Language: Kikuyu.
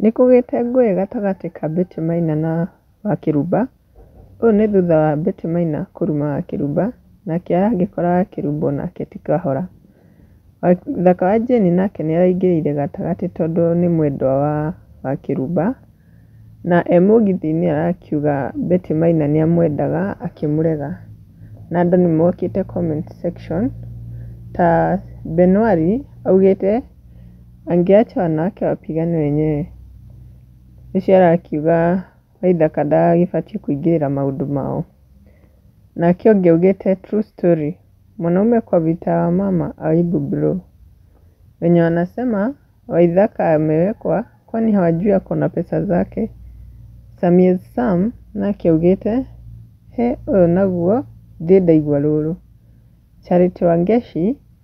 Nĩ kũgĩte ngũĩ gatagatĩ ka Betty Maina na Wakĩrumba, ũũ nĩ thutha wa Betty Maina kũruma Wakĩrumba, nake agĩkora Wakĩrumba onake ti kahora. Mũthaka wa Jane nake nĩ araingĩrĩire gatagatĩ tondũ nĩ mwendwa wa Wakĩrumba, na e mũgithi-inĩ arakiuga Betty Maina nĩ amwendaga akĩmũrega. Na andũ nĩ mokĩte comment section ta Benuali augĩte... Angeacha wanake wapigane wenyewe. Ũcio arakiuga Waithaka ndagĩbatiĩ kũingĩrĩra maũndũ mao. Nake ũngĩ augĩte true story. Mwanaume kwa vita wa mama aibu bro. Wenye wanasema Waithaka amewekwa kwani hawajui ako na pesa zake. Samie Sam nake augĩte he ũyũ naguo ndĩ ndaigua rũrũ. Charity Wangeshi